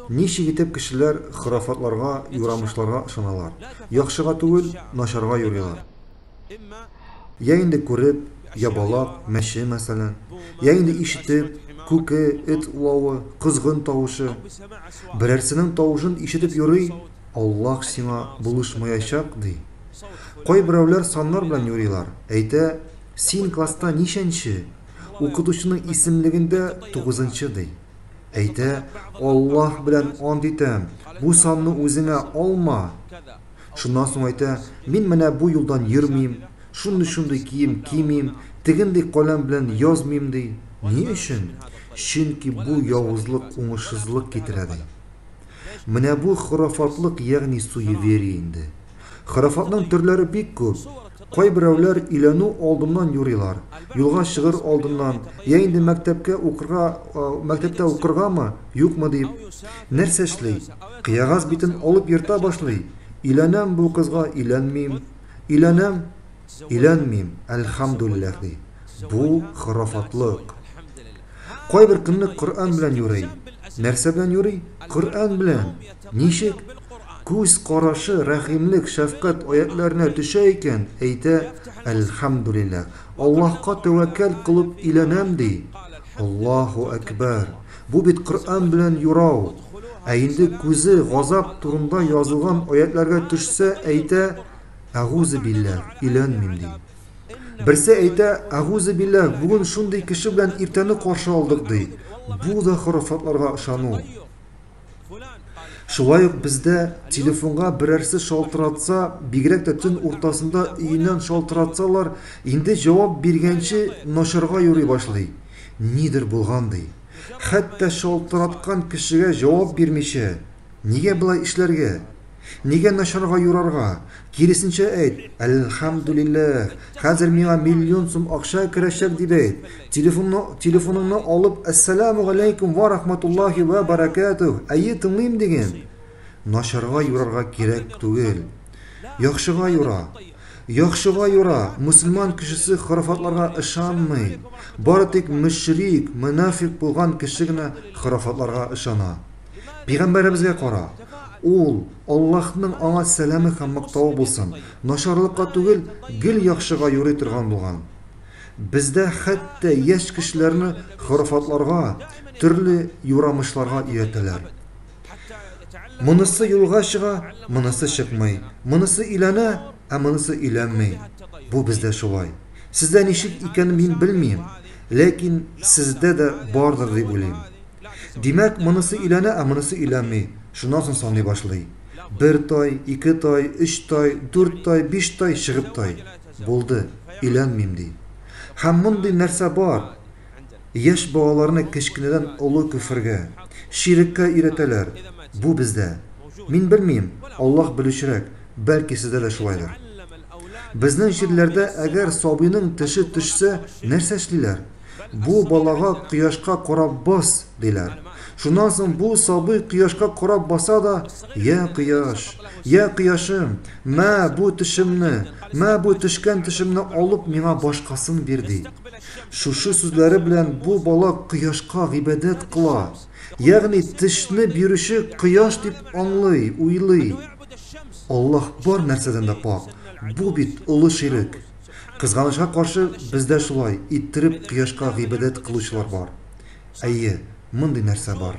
Ничек итеп кешеләр хорафатларга, юрамышларга ышаналар? Яхшыга түгел, начарга юрыйлар. Йә инде күреп, ябалак, мәче, мәсәлән. Йә инде ишетеп, күке, эт улавы, козгын тавышы. Берәрсенең тавышын ишетеп юрый, Аллаһ сиңа булышмаячак, ди. Кайберәүләр саннар белән юрыйлар, әйтә, Син класста ничәнче? Укытучының исемлегендә тугызынчы, ди. Әйтә, Аллаһ белән ант итәм, бу санны үзеңә алма! Шуннан соң әйтә, Мин менә бу юлдан йөрмим, шундый-шундый кием кимим, тегендый каләм белән язмыйм, ди. Ни өчен? Чөнки бу явызлык уңышсызлык китерә, ди. Менә бу хорафатлык, ягъни суеверие инде. Хорафатның төрләре бик күп. Кайберәүләр өйләнү алдыннан юрыйлар, юлга чыгыр алдыннан, я инде мәктәпкә укырга, мәктәптә укыргамы, юкмы дип, нәрсә эшли, кыягаз битен алып ерта башлый, өйләнәм бу кызга, өйләнмим, өйләнәм, өйләнмим, әлхәмдүлилләһ, ди. Бу, хорафатлык. Кайбер көнлек Коръән белән юрый. Нәрсә белән юрый? Коръән белән! Ничек? Күз карашы рәхимлек, шәфкать аятьләренә төшә икән, әйтә, Әлхәмдүлилләһ, Аллаһка тәвәккәл кылып өйләнәм, ди. Аллаһу әкбәр! Бу бит Коръән белән юрау. Ә инде күзе газап турында язылган аятьләргә төшсә, әйтә, Әгузебилләһ, өйләнмим, ди. Берсе әйтә, Әгузебилләһ, бүген шундый кеше белән иртәне каршы алдык, ди. Бу да хорафатларга ышану. Шулай ук бездә телефонга берәрсе шалтыратса, бигрәк тә төн уртасында өеннән шалтыратсалар, инде җавап биргәнче начарга юри башлый. Нидер булган ди. Хәтта шалтыраткан кешегә җавап бирмичә, нигә болай эшләргә? Нигә начарга юрарга? Киресенчә әйт, Әлхәмдүлилләһ, хәзер миңа миллион сум акча керәчәк, дип әйт. Телефонны, телефоныңны алып, Әссәләмү галәйкүм вә рахматуллаһи вә бәрәкәтүһ, әйе, тыңлыйм, диген. Начарга юрарга кирәк түгел. Яхшыга юра. Яхшыга юра, мөселман кешесе хорафатларга ышанмый. Бары тик мөшрик, мөнафикъ булган кеше генә хорафатларга ышана. Пигамбәребезгә кара, ул, Аллаһның аңа сәламе һәм мактавы булсын, начарлыкка түгел, гел яхшыга юри торган булган. Бездә хәтта яшь кешеләрне хорафатларга, төрле юрамышларга өйрәтәләр. Монысы юлга чыга, монысы чыкмый, монысы өйләнә, ә монысы өйләнми. Бу бездә шулай. Сездә ничек икәнен мин белмим, ләкин сездә дә бардыр дип уйлыйм. Димәк, монысы өйләнә, ә монысы өйләнми. Шуннан соң саный башлый. Бер тай, ике тай, өч тай, дүрт тай, биш тай, чыгып тай. Булды, өйләнмим, ди. Һәм мондый нәрсә бар. Яшь балаларны кечкенәдән олы көфергә, ширеккә өйрәтәләр. Бу бездә. Мин белмим, Аллаһ белүчерәк, бәлки сездә дә шулайдыр. Безнең җирләрдә әгәр сабыйның теше төшсә, нәрсә эшлиләр? Бу балага кояшка карап бас, диләр. Шуннан соң бу сабый кояшка карап баса да, я кояш, я кояшым, мә бу төшемне, мә бу төшкән төшемне алып миңа башкасын бир, ди. Шушы сүзләре белән бу бала кояшка гыйбадәт кыла. Ягъни тешне бирүче кояш дип аңлый, уйлый. Аллаһ бар нәрсәдән дә пакь, бу бит олы ширек. Кызганычка каршы, бездә шулай иттереп кояшка гыйбадәт кылучылар бар. Әйе, мондый нәрсә бар.